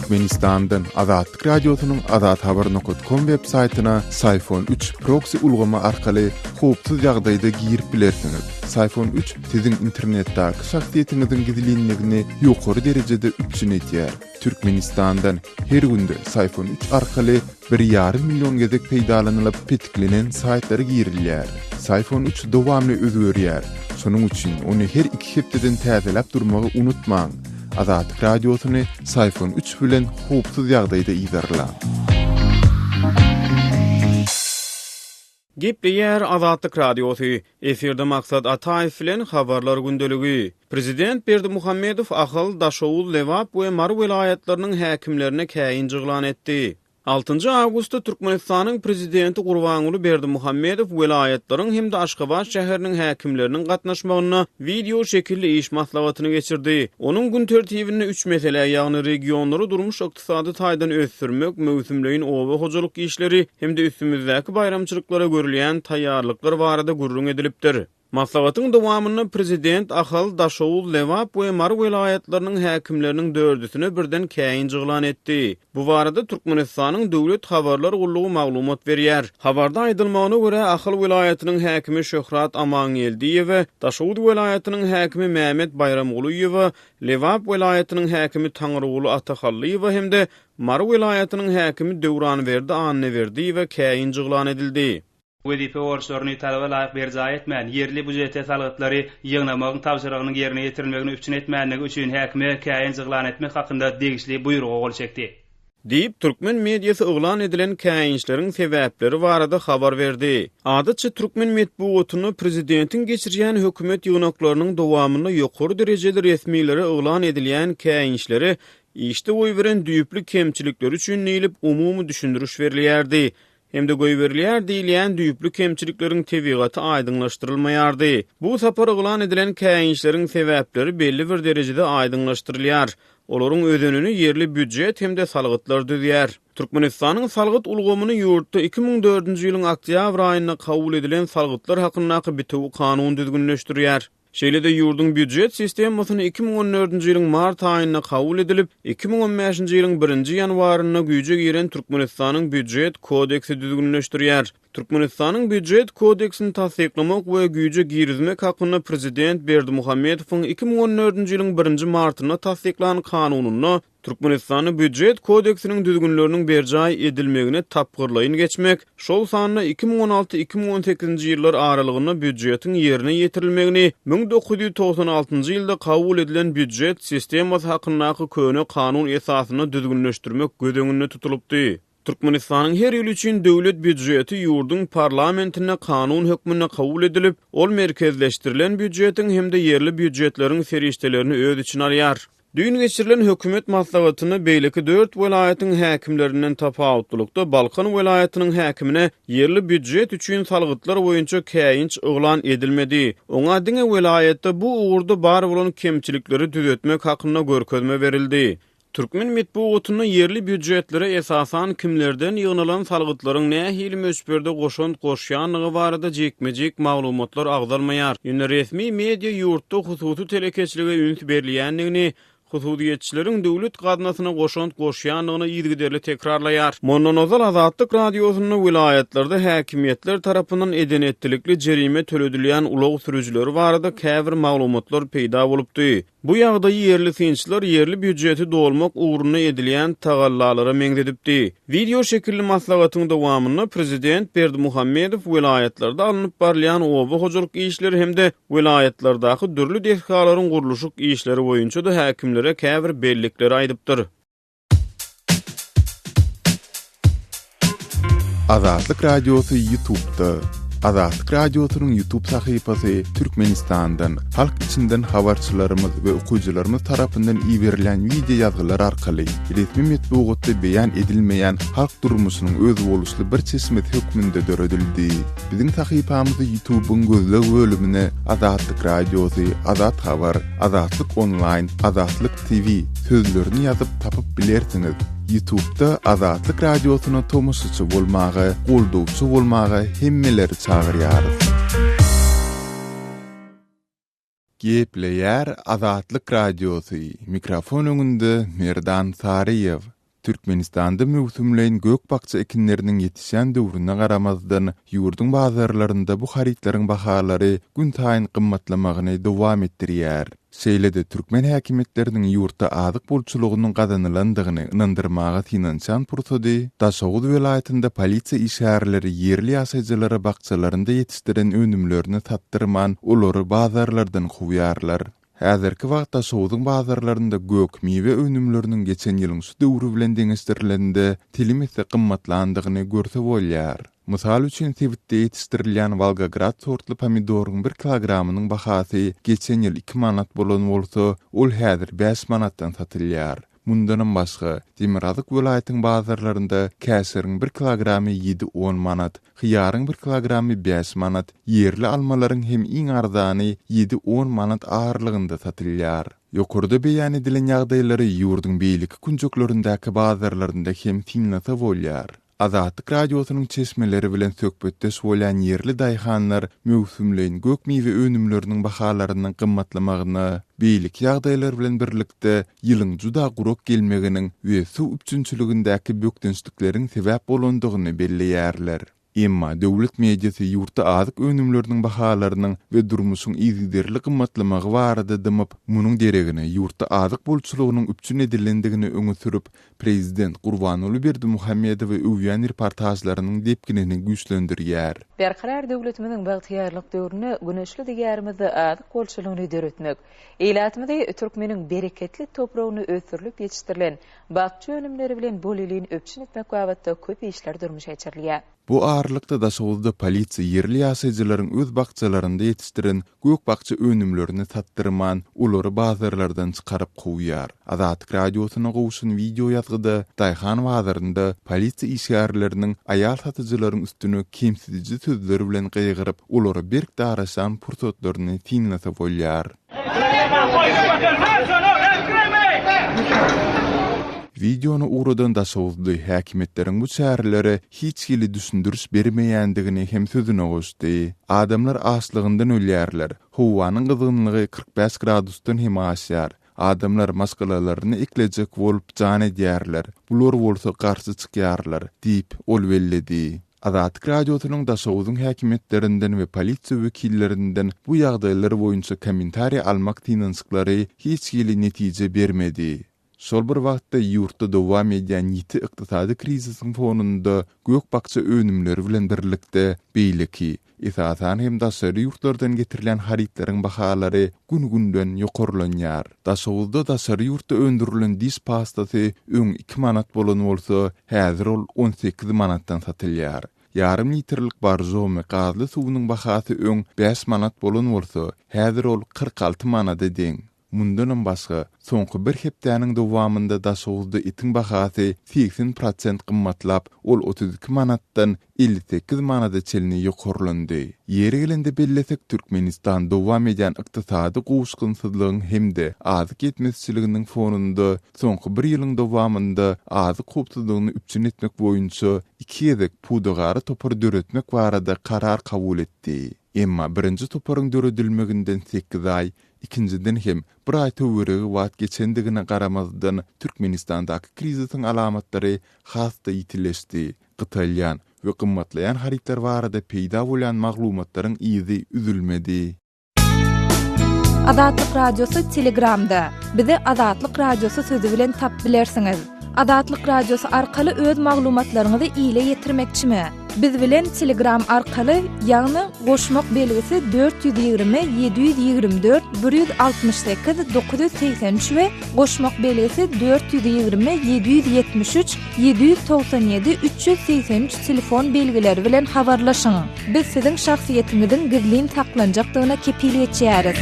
Türkmenistandan Azatlyk Radiosynyň azathaber.com web saýtyna Sayfon 3 proksi ulgamy arkaly howpsuz ýagdaýda girip bilersiňiz. Sayfon 3 siziň internetdäki şahsyýetiňiziň gizlinligini ýokary derejede üpjün edýär. Türkmenistandan her günde Sayfon 3 arkaly Bir ýarym million gezek peýdalanylyp petiklenen saýtlara girilýär. Syfon üç dowamly özgerýär, şonuň üçin ony her iki hepdeden täzeläp durmagy unutmaň! Azatlyk Radiosyny Syfon üç bilen howpsuz ýagdaýda yzarlaň! Gepleýär Azatlyk Radiosy, efirde Maksat Ataýew bilen Habarlar gündeligi. Prezident Berdimuhamedow Ahal, Daşoguz, Lebap we Mary welaýatlarynyň häkimlerine käýinç yglan etdi. Altynjy awgustda Türkmenistanyň Prezidenti Gurbanguly Berdimuhamedow welaýatlaryň hem-de Aşgabat şäheriniň häkimleriniň gatnaşmagynda wideo şekilli iş maslahatyny geçirdi. Onuň gün tertibinde üç meselä, ýagny regionlary durmuş ykdysady taýdan ösdürmek, möwsümleýin oba hojalyk işleri hem-de üstümizdäki baýramçylyklara görülýän taýýarlyklar barada gürrüň edilipdir. Maslahatyň dowamynda Prezident Ahal, Daşoguz, Lebap we Mary welaýatlarynyň häkimleriniň dördüsine birden käýinç yglan etdi. Bu barada Türkmenistanyň Döwlet habarlar gullugy maglumat berýär. Habarda aýdylmagyna görä, Ahal welaýatynyň häkimi Şöhrat Amangeldiýewe, Daşoguz welaýatynyň häkimi Mämet Baýramgulyýewa Lebap welaýatynyň häkimi Taňryguly Atahallyýewa hem-de Mary welaýatynyň häkimi Döwranberdi Annaberdiýewa käýinç yglan edildi. Wezipe borçlaryny talaba laýyk berjaý etmän, ýerli býujete salgytlary ýygnamagyň tabşyrygynyň ýerine ýetirilmegini üpjün etmändigi üçin häkime käýinç yglan etmek hakynda degişli buýruga gol çekdi. Diýip, türkmen mediasy yglan edilen käýinçleriň sebäpleri barada habar berdi. Adatça, türkmen metbugatynda prezidentiň geçirýän hökümet ýygnaklarynyň dowamynda ýokary derejeli resmilere yglan edilýän käýinçlere işde goýberen düýpli kemçilikleri üçin diýlip umumy düşündiriş berilýärdi. hem-de goýberilýär diýilýän düýpli kemçilikleriň tebigaty aýdyňlaşdyrylmaýardy. Bu sapar yglan edilen käýinçleriň sebäpleri belli bir derejede aýdyňlaşdyrylýar. Olaryň özenini ýerli býujet hem-de salgytlar düzýär. Türkmenistanyň salgyt ulgamyny ýurtda iki müň dördünji ýylyň oktýabr aýynda kabul edilen Salgytlar hakyndaky bitewi kanun düzgünleşdirýär. Şeýle-de ýurduň býujet sistemasyny iki müň on dördünji ýylyň mart aýynda kabul edilip, iki müň on bäşinji ýylyň birinji ýanwarynda güýje giren Türkmenistanyň Býujet kodeksi düzgünleşdirýär. Türkmenistanyň Býujet kodeksini tassyklamak we güýje girizmek hakynda prezident Berdimuhamedowyň iki müň on dördünji ýylyň birinji martynda tassyklan kanunynda Türkmenistanda Býujet kodeksiniň düzgünleriniň berjaý edilmegine tapgyrlaýyn geçmek, şol sanda iki müň on alty, iki müň on sekizinji ýyllar aralygynda býujetiň ýerine ýetirilmegini müň dokuz ýüz togsan altynjy ýylda kabul edilen Býujet sistemasy hakyndaky köne kanun esasynda düzgünleşdirmek göz öňünde tutulypdy. Türkmenistanyň her ýyl üçin Döwlet býujeti ýurduň parlamentinde kanun hökmünde kabul edilip, ol merkezleşdirilen býujetiň hem-de ýerli býujetleriň serişdelerini öz içine alýar. Düýn geçirilen hökümet maslahatynda beýleki dört welaýatyň häkimlerinden tapawutlylykda Balkan welaýatynyň häkimine ýerli býujet üçin salgytlar boýunça käýinç yglan edilmedi. Oňa diňe welaýatda bu ugurda bar bolan kemçilikleri düzetmek hakynda görkezme berildi. Türkmen metbugatynda ýerli býujetlere esasan kimlerden ýygnalan salgytlaryň nähili möçberde goşant goşýandygy barada jikme-jik maglumatlar agzalmaýar. Ýöne resmi media ýurtda hususy telekeçilige üns berilýändigini, hususyýetçileriň döwlet gaznasyna goşant goşýandygyny yzygiderli tekrarlaýar. Mundan ozal Azatlyk Radiosynda welaýatlarda häkimiýetler tarapyndan eden-etdilikli jerime töledilýän ulag sürüjileri barada käbir maglumatlar peýda bolupdy. Bu ýagdaýy ýerli synçylar ýerli býujeti dolmak ugrunda edilýän tagallalara meňzedipdi. Wideo şekilli maslahatyň dowamynda Prezident Berdimuhamedow welaýatlarda alnyp barylýan oba hojalyk işleri hem-de welaýatlardaky dürli desgalaryň gurluşyk işleri boýunça-da häkimlere käbir bellikleri aýdypdyr. Azatlyk Radiosy YouTube-da, Azatlyk Radiosynyň YouTube sahypasy Türkmenistandan, halk içinden habarçylarymyz we okyjylarymyz tarapyndan iberilen wideo ýazgylar arkaly resmi metbugatda beýan edilmeýän halk durmuşynyň özboluşly bir çeşmesi hökmünde döredildi. Biziň sahypamyzy YouTube-yň gözleg bölümine Azatlyk Radiosy, Azat Habar, Azatlyk Onlaýn, Azatlyk TV sözlerini ýazyp tapyp bilersiňiz. Ýutubda Azatlyk Radiosyna tomaşaçy bolmaga, goldawçy bolmaga hemmeleri çagyrýarys. Gepleýär Azatlyk Radiosy, mikrofon öňünde Merdan Saryýew. Türkmenistanda möwsümleýin gök-bakja ekinleriniň ýetişýän döwrüne garamazdan, ýurduň bazarlarynda bu harytlaryň bahalary günsaýyn gymmatlamagyny dowam etdirýär. Şeýle-de türkmen häkimiýetleriniň ýurtda azyk bolçulygynyň gazanylandygyny ynandyrmaga synanyşan pursady Daşoguz welaýatynda polisiýa işgärleri ýerli ýaşaýjylara bakjalarynda ýetişdiren önümlerini satdyrman, olary bazarlardan kowýarlar. Häzirki wagtda Şowzuň bazarlarynda gök miwe önümleriniň geçen ýylyň şu döwri bilen deňeşdirilende telim esse gymmatlandygyny görse bolýar. Mysal üçin, sebitde ýetişdirilýän Wolgograd sortly pomidoryň bir kilogramynyň bahasy geçen ýyl iki manat bolan bolsa, ol häzir bäş manatdan satylýar. Mundanam başga, Demirgazyk welaýatyň bazarlarynda käşiriň bir kilogramy ýedi-on manat, Hyýaryň bir kilogramy bäş manat, ýerli almalaryň hem iň arzany ýedi-on manat aralygynda satylýar. Ýokarda beýan edilen ýagdaýlary ýurduň beýleki künjeklerindäki bazarlarynda hem synlasa bolýar. Azatlyk Radiosynyň çeşmeleri bilen söhbetdeş bolýan ýerli daýhanlar möwsümleýin gök-miwe önümleriniň bahalarynyň gymmatlamagyna beýleki ýagdaýlar bilen birlikde ýylyň juda gurak gelmeginiň we suw üpjünçiligindäki bökdençlikleriň sebäp bolandygyny belleýärler. Emma döwlet mediasy ýurtda azyk önümleriniň bahalarynyň we durmuşyň yzygiderli gymmatlamagy barada dymyp, munuň deregine ýurtda azyk bolçulygynyň üpjün edilendigini öňe sürüp, prezident Gurbanguly Berdimuhamedowy öwýän reportažlarynyň depginini güýçlendirýär. Berkarar döwletimiziň bagtyýarlyk döwründe güneşli Diýarymyzda azyk bolçulygyny döretmek, Ilatymyzy türkmeniň bereketli topragynda ösdürilip ýetişdirilen bakja önümleri bilen bolelin üpjün etmek babatda köp işler durmuşa geçirilýär. Bu aralykda Daşoguzda polisiýa ýerli ýaşaýjylaryň öz bakjalarynda ýetişdiren gök-bakja önümlerini satdyrman, olary bazarlardan çykaryp kowýar. Azatlyk Radiosyna gowşan wideo ýazgyda daýhan bazarynda polisiýa işgärleriniň aýal satyjylaryň üstüne kemsidiji sözler bilen gygyryp, olara berk daraşan pursatlaryny synlasa bolýar. Wideony ugradan Daşoguzly häkimiýetleriň bu çärelere hiç hili düşündiriş bermeýändigini hem sözüne goşdy. Adamlar açlygyndan ölýärler. Howanyň gyzgynlygy kyrk bäş gradusdan hem aşýar. Adamlar maşgalalaryny eklejek bolup jan edýärler, bular bolsa garşy çykýarlar, diýip, ol belledi. Azatlyk Radiosynyň Daşoguzyň häkimiýetlerinden we polisiýa wekillerinden bu ýagdaýlar boýunça kommentariý almak synanyşyklary hiç hili netije bermedi. Şol bir wagtda, ýurtda dowam edýän ýiti ykdysady krizisiň fonunda gök-bakja önümleri bilen birlikde beýleki, Esasan hem daşary ýurtlardan getirilýän harytlaryň bahalary gün-günden ýokarlanýar. Daşoguzda daşary ýurtda öndürilen diş pastasy öň iki manat bolan bolsa, häzir ol on sekiz manatdan satylýar. Ýarym litrlik Borjomi gazly suwunyň bahasy öň bäş manat bolan bolsa, häzir ol kyrk alty manada deň. Mundanam başga, soňky bir hepdäniň dowamynda Daşoguzda etiň bahasy segsen prosent gymmatlap, ol otuz iki manatdan elli sekiz manada çenli ýokarlandy. Ýeri gelende bellesek, Türkmenistan dowam edýän ykdysady gowuşgynsyzlygyň hem-de azyk ýetmezçiliginiň fonunda soňky bir ýylyň dowamynda azyk howpsuzlygyny üpjün etmek boýunça iki gezek pudagara topar döretmek barada karar kabul etdi. Emma birinji toparyň döredilmeginden sekiz aý, Ikinjiden hem, bir aý töweregi wagt geçendigine garamazdan, Türkmenistandaky krizisiň alamatlary has-da ýitileşdi. Gytalýan we gymmatlaýan harytlar barada peýda bolýan maglumatlaryň yzy üzülmedi. Azatlyk Radiosy Telegramda, Bizi Azatlyk Radiosy sözi bilen tap bilersiňiz. Azatlyk Radiosy arkaly öz maglumatlaryňyzy ile ýetirmekçimi? Biz bilen Telegram arkaly, ýagny goşmak belgisi dört ýüz ýigrimi, ýedi ýüz ýigrimi dört, bir ýüz altmyş sekiz, dokuz ýüz segsen üç we goşmak belgisi dört ýüz ýigrimi, ýedi ýüz ýetmiş üç, ýedi ýüz togsan ýedi, üç ýüz segsen üç telefon belgileri bilen habarlaşyň. Biz siziň şahsyýetiňiziň gizlin saklanjakdygyna kepil geçýäris.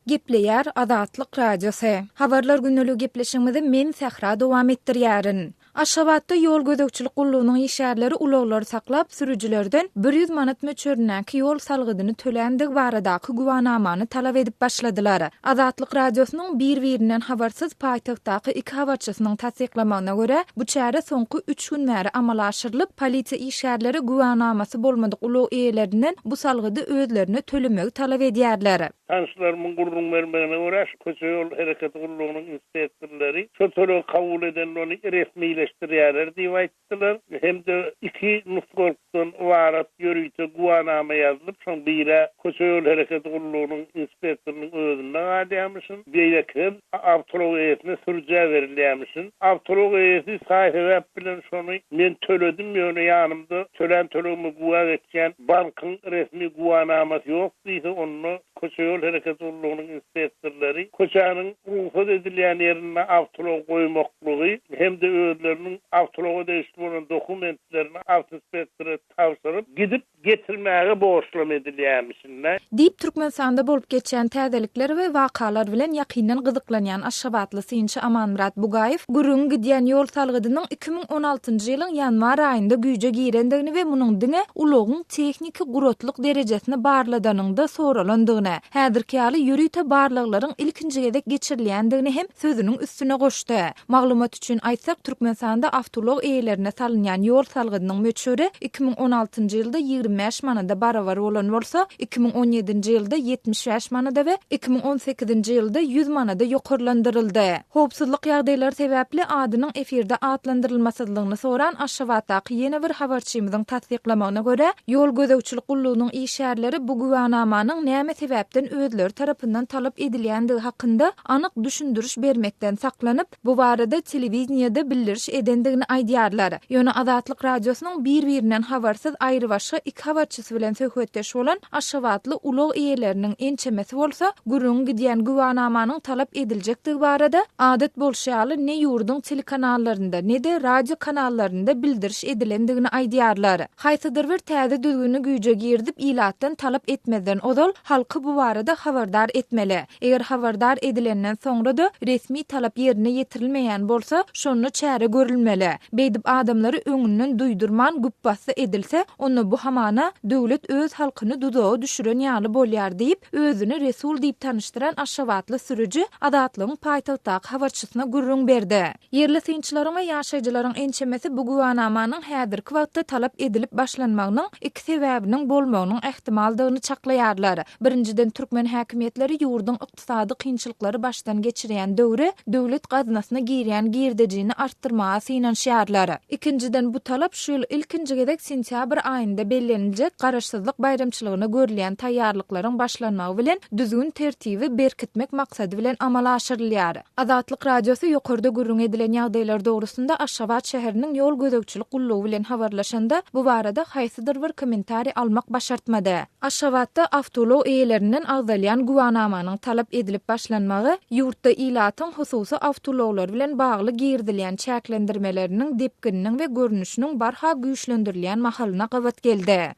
Gepleýär Azatlyk Radiosy. Habarlar gündelige gepleşigimizi men Sähra dowam etdirýärin. Aşgabatda ýol gözegçilik gullugynyň işgärleri ulaglary saklap, sürüjilerden bir ýüz manat möçberindäki ýol salgydyny töländigi baradaky güwanamany talap edip başladylar. Azatlyk Radiosynyň bir-birinden habarsyz paýtagtdaky iki habarçysynyň tassyklamagyna görä, bu çäre soňky üç gün bäri amala aşyrylyp, polisiýa işgärleri güwanamasy bolmadyk ulag eýelerinden bu salgydy özlerine tölemegi talap edýärler. Tanyşlarymyň gürrüň bermegine görä, şu köçe-ýol hereketi gullugynyň inspektorlary şol tölegi kabul edende ony resmileşdirýärler diýip aýtdylar hem-de iki nusgalykdan ybarat ýörite güwanama ýazylyp, şoň bir-ä köçe-ýol hereketi gullugynyň inspektorynyň özünde galýarmyşyn, beýleki hem awtoulag eýesine sürüjä berilýärmişin. Awtoulag eýesi saý-sebäp bilen şony men töledim, ýöne ýanymda tölän tölegime güwä geçýän bankyň resmi güwanamasy ýok. Diýse onda köçe-ýol hereketi gullugynyň inspektorlary köçäniň rugsat edilýän ýerinde awtoulag goýmaklygy hem-de özleriniň awtoulaga degişli bolan dokumentlerini awtoinspektora tabşyryp, gidip getirmäge borçlama edilýärmişin-dä. Diýip, Türkmenistanda bolup geçýän täzelikler we wakalar bilen ýakyndan gyzyklanýan aşgabatly synçy Amanmyrat Bugaýew gürrüňi gidýän ýol salgydynyň iki müň on altynjy ýylyň ýanwar aýynda güýje girendigini we munuň diňe ulagyň Tehniki guratlyk derejesini barladanyňda soralandygyny, häzirki ýaly ýörite barlaglaryň ilkinji gezek geçirilýändigini hem sözüniň üstüne goşdy. Maglumat üçin aýtsak, Türkmenistanda awtoulag eýelerine salynýan ýol salgydynyň möçberi iki müň on altynjy ýylda ýigrimi bäş manada barabar bolan bolsa, iki müň on ýedinji ýylda ýetmiş bäş manada we iki müň on sekizinji ýylda ýüz manada ýokarlandyryldy. Howpsuzlyk ýagdaýlary sebäpli adynyň efirde atlandyrylmasyzlygyny soran Aşgabatdaky ýene bir habarçymyzyň tassyklamagyna görä, ýol gözegçilik gullugynyň işgärleri bu güwänamanyň näme sebäpden özleri tarapyndan talap edilýändigi hakynda anyk düşündiriş bermekden saklanyp, bu barada telewideniýede bildiriş edendigini aýdýarlar. Ýöne Azatlyk Radiosynyň bir-birinden habarsyz aýrybaşga iki habarçysy News bilen söhbetdeş bolan aşgabatly ulag eýeleriniň ençemesi bolsa, gürrüňi gidýän güwänamanyň talap ediljekdigi barada, adat bolşy ýaly, ne ýurduň telekanallarynda, ne-de radio kanallarynda bildiriş edilendigini aýdýarlar. Haýsydyr bir täze düzgüni güýje girizip, ilatdan talap etmezden ozal, halky bu barada habardar etmeli. Eger habardar edilenden soňra-da resmi talap ýerine ýetirilmeýän bolsa, şonda çäre görülmeli. Beýdip adamlary öňünden duýdurman güpbasdy edilse, onda bu hamana döwlet öz halkyny duzaga düşüren ýaly bolýar diýip, özüni Resul diýip tanyşdyran aşgabatly sürüji Azatlygyň paýtagtdaky habarçysyna gürrüň berdi. Ýerli synçylaryň we ýaşaýjylaryň ençemesi bu güwänamanyň häzirki wagtda talap edilip başlanmagynyň iki sebäbiniň bolmagynyň ähtimaldygyny çaklaýarlar. Birinjiden, türkmen häkimiýetleri ýurduň ykdysady kynçylyklary başdan geçirýän döwri döwlet gaznasyna girýän girdejini artdyrmaga synanyşýarlar. Ikinjiden, bu talap şu ýyl ilkinji gezek sentýabr aýynda belleniljek Garaşsyzlyk baýramçylygyna görülýän taýýarlyklaryň başlanmagy bilen düzgün-tertibi berkitmek maksady bilen amala aşyrylýar. Azatlyk Radiosy ýokarda gürrüň edilen ýagdaýlar dogrusynda Aşgabat şäheriniň ýol gözegçilik gullugy bilen habarlaşanda, bu barada haýsydyr bir kommentariý almak başartmady. Aşgabatda awtoulag eýelerinden agzalýan güwanamanyň talap edilip başlanmagy ýurtda ilatyň hususy awtoulaglar bilen bagly girizilýän çäklendirmeleriniň depgininiň we görnüşiniň barha güýçlendirilýän mahalyna gabat geldi.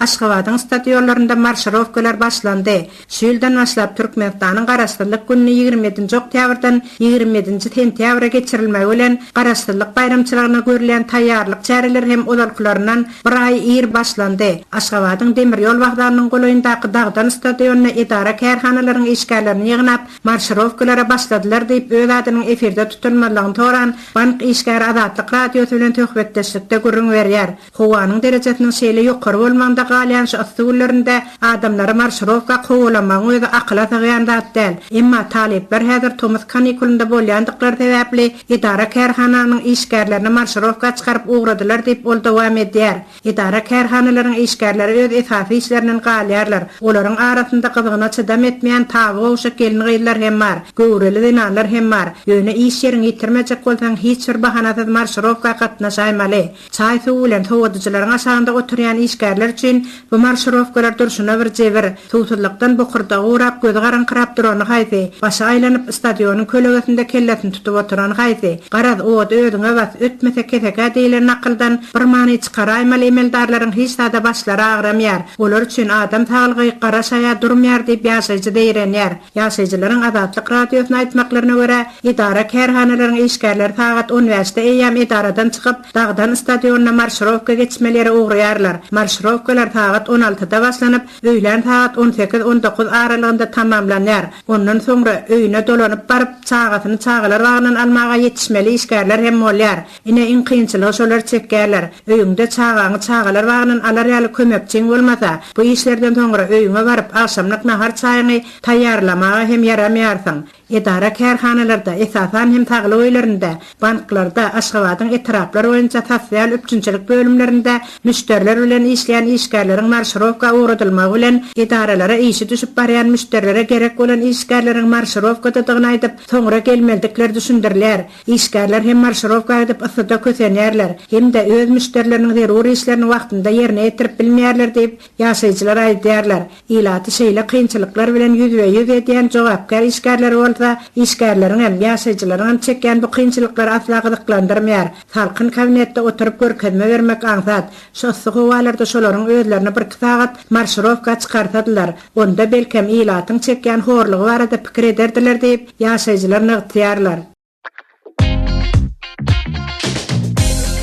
Aşgabadyň stadionlarynda marşirowkalar başlandy. Şu ýyldan başlap Türkmenistanyň Garaşsyzlyk gününi ýigrimi ýedinji oktýabrdan ýigrimi ýedinji sentýabra geçirilmegi bilen Garaşsyzlyk baýramçylygyna görülýän taýýarlyk çäreleri hem ozalkylaryndan bir aý ir başlandy. Aşgabadyň demir ýol wokzalynyň golaýyndaky Dagdan stadionyna edara-kärhanalaryň işgärlerini ýygnap, marşirowkalara başladylar diýip, öz adynyň efirde tutulmazlygyny soran bank işgäri Azatlyk Radiosy bilen söhbetdeşlikde gürrüň berýär. Howanyň derejesiniň şeýle ýokary bolmagynda galýan şu yssy günlerinde adamlary marşirowka kowalamagyň özi akyla sygýan zat däl. Emma talyplar häzir tomus kanikulynda bolýandyklary sebäpli edara-kärhananyň işgärlerini marşirowka çykaryp ugradylar diýip, ol dowam edýär. Edara-kärhanalaryň işgärleri öz esasy işlerinden galýarlar. Olaryň arasynda gyzgyna çydam etmeýän taby gowşak gelin-gyzlar hem bar, göwreli zenanlar hem bar. Ýöne iş ýeriňi ýitirmejek bolsaň hiç bir bahanasyz marşirowka gatnaşaýmaly. Çaý suwy bilen sowadyjylaryň aşagynda oturýan işgärler üçin bu marşirowkalar durşuna bir jebir. Suwsuzlykdan bokurdagy gurap, gözi garaňkyrap durany haýsy, başy aýlanyp, stadionyň kölegesinde kellesini tutup oturany haýsy? Garaz, ody özüňe bas, ötmese kesek-ä diýlen nakyldan bir many çykaraýmaly emeldarlaryň hiç zada başlary agramýar. Olar üçin adam saglygy gara şaýa durmýar diýip ýaşaýjy zeýrenýär. Ýaşaýjylaryň Azatlyk Radiosyna aýtmaklaryna görä, edara-kärhanalaryň işgärleri sagat on bäşde eýýäm edaradan çykyp, Dagdan stadionyna marşirowka geçmeli ýere ugraýarlar. Marşirowkalar sagat on altyda başlanyp, öýlän sagat on sekiz-on dokuz aralygynda tamamlanýar. Ondan soňra, öýüne dolanyp baryp, çagasyny çagalar bagyndan almaga ýetişmeli işgärler hem bolýar. Ine iň kynçylygy şolar çekýärler. Öýüňde çagaňy çagalar bagyndan alar ýaly kömekçiň bolmasa, bu işlerden soňra öýüňe baryp agşamlyk nahar çaýyňy taýýarlamaga hem ýaramaýarsyň. Edara-kärhanalarda, esasan hem saglyk öýlerinde, banklarda, Aşgabadyň etraplar boýunça sosial üpjünçilik bölümlerinde müşderiler bilen işleýän işgärleriň marşirowka ugradylmagy bilen edaralara işi düşüp barýan müşderilere gerek bolan işgärleriň marşirowkadadygyny aýdyp, soňra gelmelidikleri düşündirilýär. Işgärler hem marşirowka edip yssyda kösenýärler hem-de öz müşderileriniň zerur işlerini wagtynda ýerine ýetirip bilmeýärler diýip, ýaşaýjylar aýdýarlar. Ilaty şeýle kynçylyklar bilen ýüzbe-ýüz edýän jogapkär işgärleri bolsa, işgärleriňem, ýaşaýjylaryňam çekýän bu kynçylyklary asla gyzyklandyrmaýar. Salkyn kabinetde oturyp görkezme bermek aňsat. Şu yssy howalarda şolaryň özlerini birki sagat marşirowka çykarsadylar, Onda belkem ilatyň çekýän horlugy barada pikir ederdiler diýip, ýaşaýjylar nygtýarlar.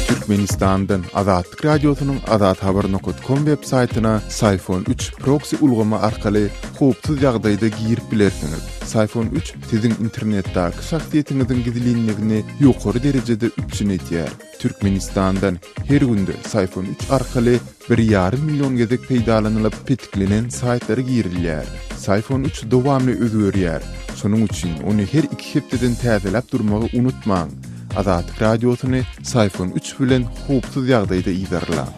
Türkmenistandan Azatlyk Radiosynyň Azat Haber nokot kom web saýtyna Syphon üç proksi ulgamy arkaly howpsuz ýagdaýda girip bilersiňiz. Syphon üç siziň internetdäki şahsyýetiňiziň gizlinligini ýokary derejede üpjün edýär. Türkmenistandan her günde Syphon üç arkaly Bir ýarym million gezek peýdalanylyp petiklenen saýtlara girilýär. Syfon üç dowamly özgerýär, şonuň üçin ony her iki hepdeden täzeläp durmagy unutmaň! Azatlyk Radiosyny Syfon üç bilen howpsuz ýagdaýda yzarlaň!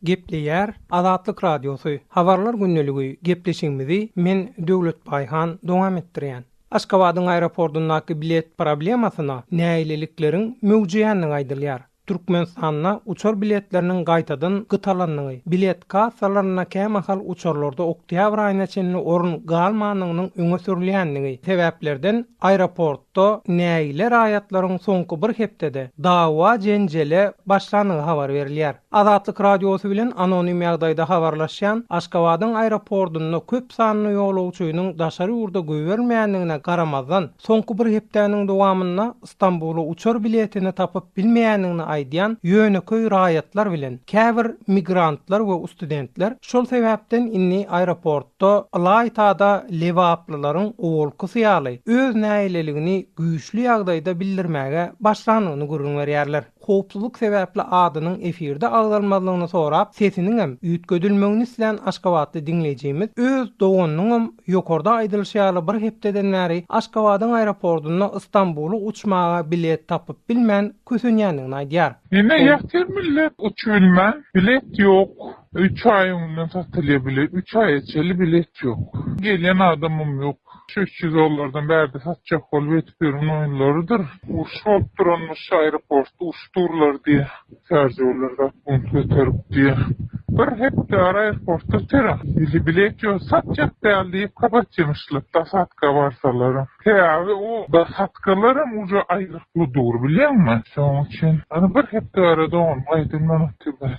Gepleýär Azatlyk Radiosy, Habarlar gündeligiý gepleşigimizi men Döwlet Baýhan dowam etdirýän. Aşgabadyň aeropordyndaky bilet problemasyna nägilelikleriň möwjeýändigi aýdylýar. Türkmenistanda uçar biletleriniň gaýtadan gytalandygy, bilet kassalarynda kämahal uçarlarda oktýabr aýyna çenli orun galmandygynyň öňe sürülýändigi sebäplerden aeroportda nägile raýatlaryň soňky bir hepdede dawa-jenjele başlandygy habar berilýär. Azatlyk Radiosy bilen anonim ýagdaýda habarlaşýan Aşgabadyň aeropordynda köp sanly ýolagçynyň daşary ýurda goýbermeýändigine garamazdan, soňky bir hepdäniň dowamynda Stambula uçar biletini tapyp bilmeýändigini aýdýan ýönekeý raýatlar bilen käbir migrantlar we ustudentler şol sebäpden indi aeroportda ylaýta-da lebaplylaryň owalkysy ýaly öz nägileligini güýçli ýagdaýda bildirmäge başlandygyny gürrüň berýärler. howpsuzlyk sebäpli adynyň efirde agzalmazlygyny sorap, sesiniňem üýtgedilmegini islän aşgabatly diňleýjimiz öz doganynyňam ýokarda aýdylyşy ýaly bir hepdeden bäri Aşgabadyň aeropordunda Ystambula uçmaga bilet tapyp bilmän kösenýändigini aýdýar. Ýene ýatyr millet uçubilmän. Bilet ýok. Üç aýyň öňünden satylýar bilet. Üç aýa çenli bilet ýok. Gelýän adamam ýok. Şu üç ýüz dollardan bärde satjak bolup edip ýören oýunlarydyr. Uruş bolup duranmyş aeroportda uruş durlar diýe şarjorlar zat bunt göterip diýe bir hepdara aeroportda terek ili bilet ýok satjak däl diýip kapatýamyşlar dosadka barsalara sebäbi o dosadkalaram uje aýgytly dur bilýäňmi şoň üçin ony bir hepde ara doganym gaýdyň manat ýubor.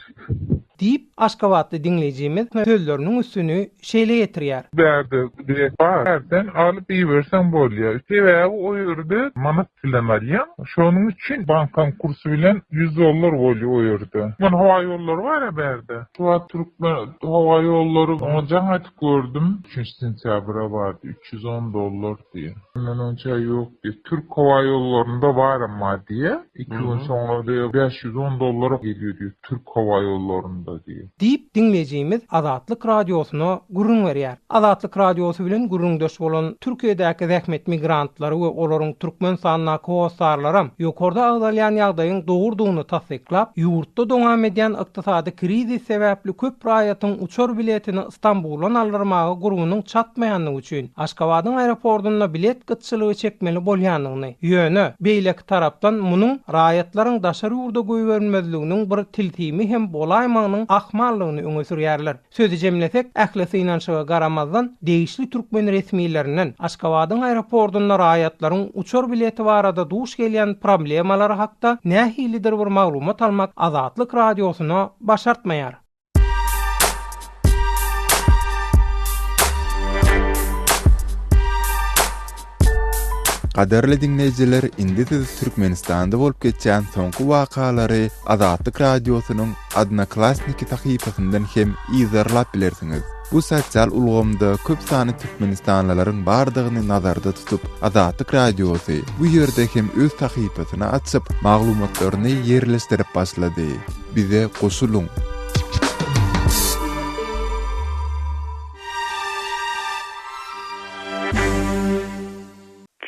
Diýip, aşgabatly diňleýjimiz sözleriniň üstüni şeýle ýetirýär. Bärde bilet bar. Bärden alyp iberseň bolýar. Sebäbi o ýerde manat bilen alýaň. Şonuň üçin bankaň kursy bilen ýüz dollar bolýar o ýerde. Türkmen howa ýollary bar-a bärde. Şu wagt Türkmen howa ýollary, oňa jaň aýdyp gördüm. Üçünji sentýabra bardy. Üç ýüz on dollar. diýýär. Mundan onça ýok diýýär. Türk howa ýollarynda bar emma diýýär. Iki gün soňra diýýär, bäş ýüz on dollara gelýär diýýär türk howa ýollarynda diýýär. Diýip, diňleýjimiz Azatlyk Radiosyna gürrüň berýär. Azatlyk Radiosy bilen gürrüňdeş bolan Türkiýedäki zähmet migrantlary we olaryň Türkmenistandaky hossarlaram ýokarda agzalýan ýagdaýyň dogrudygyny tassyklap, ýurtda dowam edýän ykdysady krizis sebäpli köp raýatyň uçar biletini Stambula nalyrmaga gurbunyň çatmaýandygy üçin Aşgabadyň aeropordynda bilet gytçylygy çekmeli bolýandygyny, ýöne, beýleki tarapdan, munuň raýatlaryň daşary ýurda goýberilmezliginiň bir tilsimi hem bolaýmagynyň ahmaldygyny öňe sürýärler. Sözi jemlesek, ähli synanyşyga garamazdan, degişli türkmen resmilerinden Aşgabadyň aeropordynda raýatlaryň uçar bileti barada duş gelýän problemalary hakda nähilidir bir maglumat almak Azatlyk Radiosyna başartmaýar. Gaderli dinleýjiler, indi siz Türkmenistanda bolup geçýän soňky wakalary Azatlyk Radiosynyň Odnoklassniki sahypasyndan hem yzarlap bilersiňiz. Bu sosial ulgamda köp sany türkmenistanlylaryň bardygyny nazarda tutup, Azatlyk Radiosy bu ýerde hem öz sahypasyny açyp, maglumatlaryny ýerleşdirip başlady. Bize goşulyň!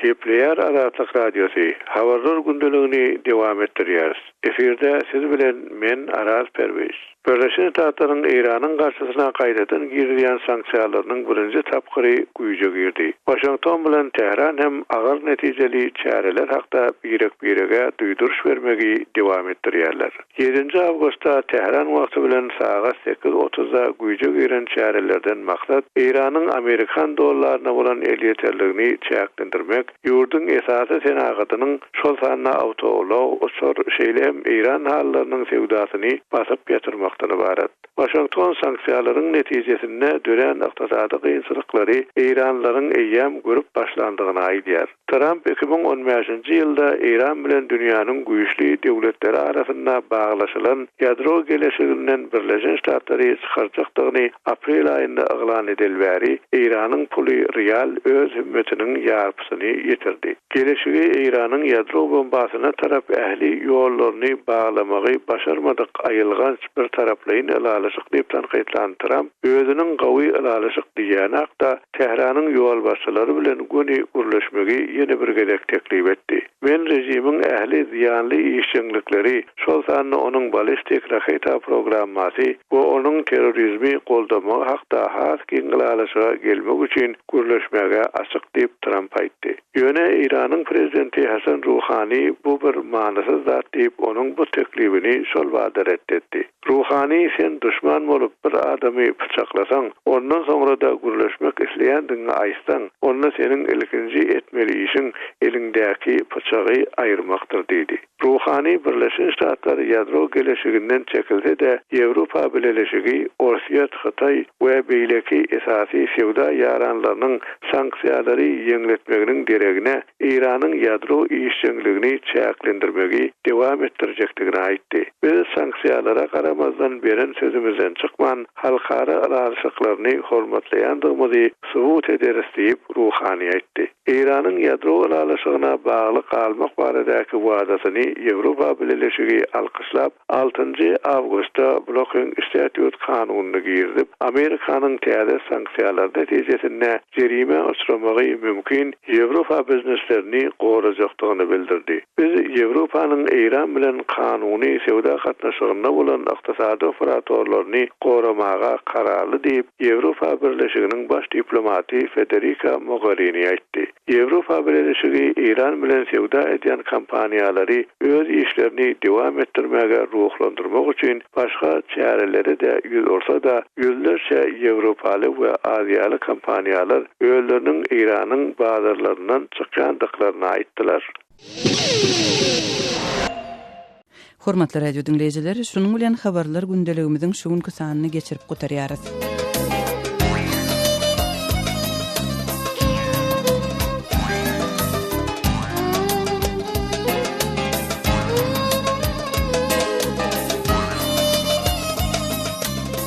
Gepleýär Azatlyk Radiosy, Habarlar gündeligini dowam etdirýäris. Efirde siz bilen men, Araz Perwiz. Birleşen Ştatlaryň Eýranyň garşysyna gaýtadan girizýän sanksiýalarynyň birinji tapgyry güýje girdi. Waşington bilen Tähran hem agyr netijeli çäreler hakda birek-birege duýduryş bermegi dowam etdirýärler. Ýedinji awgustda Tähran wagty bilen sagat sekiz otuzda güýje giren çärelerden maksat Eýranyň amerikan dollaryna bolan elýeterligini çäklendirmek, ýurduň esasy senagatynyň, şol sanda awtoulag, uçar, şeýle hem Eýran halylarynyň söwdasyny basyp ýatyrmakdan ybarat. Waşington sanksiýalaryň netijesinde dörän ykdysady kynçylyklary eýranlylaryň eýýäm görüp başlandygyny aýdýar. Tramp iki müň on bäşinji ýylda Eýran bilen dünýäniň güýçli döwletleri arasynda baglaşylan ýadro geleşiginden Birleşen Ştatlary çykarjakdygyny aprel aýynda yglan edeli bäri Eýranyň puly rial öz hümmetiniň ýarpysyny ýitirdi. Geleşigi Eýranyň ýadro bombasyna tarap ähli ýollaryny baglamagy başarmadyk aýylganç birtaraplaýyn ylalaşyk diýip tankytlan Tramp, Özüniň gawy ylalaşyk diýýäni-hakda, Tähranyň ýolbaşçylary bilen göni gürleşmegi ýene bir gezek teklip etdi. Men režimiň ähli zyýanly işjeňlikleri, şol sanda onuň balistik raketa programmasy we onuň terrorizmi goldamagy hakda has giň ylalaşyga gelmek üçin gürleşmäge açyk diýip, Tramp aýtdy. Ýöne Eýranyň prezidenti Hasan Ruhani bu bir manysyz zat diýip, onuň bu teklibini şol bada ret etdi. Ruhany sen duşman bolup bir adamy pyçaklasaň, ondan soňrada gürleşmek isleýändigiňi aýtsaň, onda seniň ilkinji etmeli işiň eliňdäki pyçagy aýyrmakdyr diýdi. Ruhany Birleşen Ştatlar ýadro geleşiginden çekilse-de, Ýewropa Bileleşigi, Orsýet, Hytaý we beýleki esasy söwda ýaranlarynyň sanksiýalary ýeňletmeginiň deregine, Eýranyň ýadro işjeňligini çäklendirmegi dowam etdirjekdigini aýtdy. Biz sanksiýalara garamazdan beren sözümizden çykman, halkara ylalaşyklaryny hormatlaýandygymyzy subut ederis diýip, Ruhani aýtdy. Eýranyň ýadro ylalaşygyna bagly galmak baradaky wadasyny Ýewropa Bileleşigi alkyşlap, altynjy awgustda Blocking Statute kanunyny girizip, Amerikanyň täze sanksiýalary netijesinde jerime uçramagy mümkin Ýewropa bizneslerini gorajakdygyny bildirdi. Biz Ýewropanyň Eýran bilen kanuny söwda gatnaşygynda bolan ykdysady operatorlaryny goramaga kararly diýip, Ýewropa Birleşiginiň baş diplomaty Federika Mogerini aýtdy. Ýewropa Birelişigi Eýran bilen söwda edýän kompaniýalary öz işlerini dowam etdirmäge ruhlandyrmak üçin başga çärelere-de ýüz ursa-da, ýüzlerçe ýewropaly we aziýaly kompaniýalar özleriniň Eýranyň bazarlaryndan çykýandyklaryny aýtdylar. Hormatly radio diňleýjiler, şunuň bilen Habarlar gündeligimiziň şu günki sanyny geçirip gutarýarys.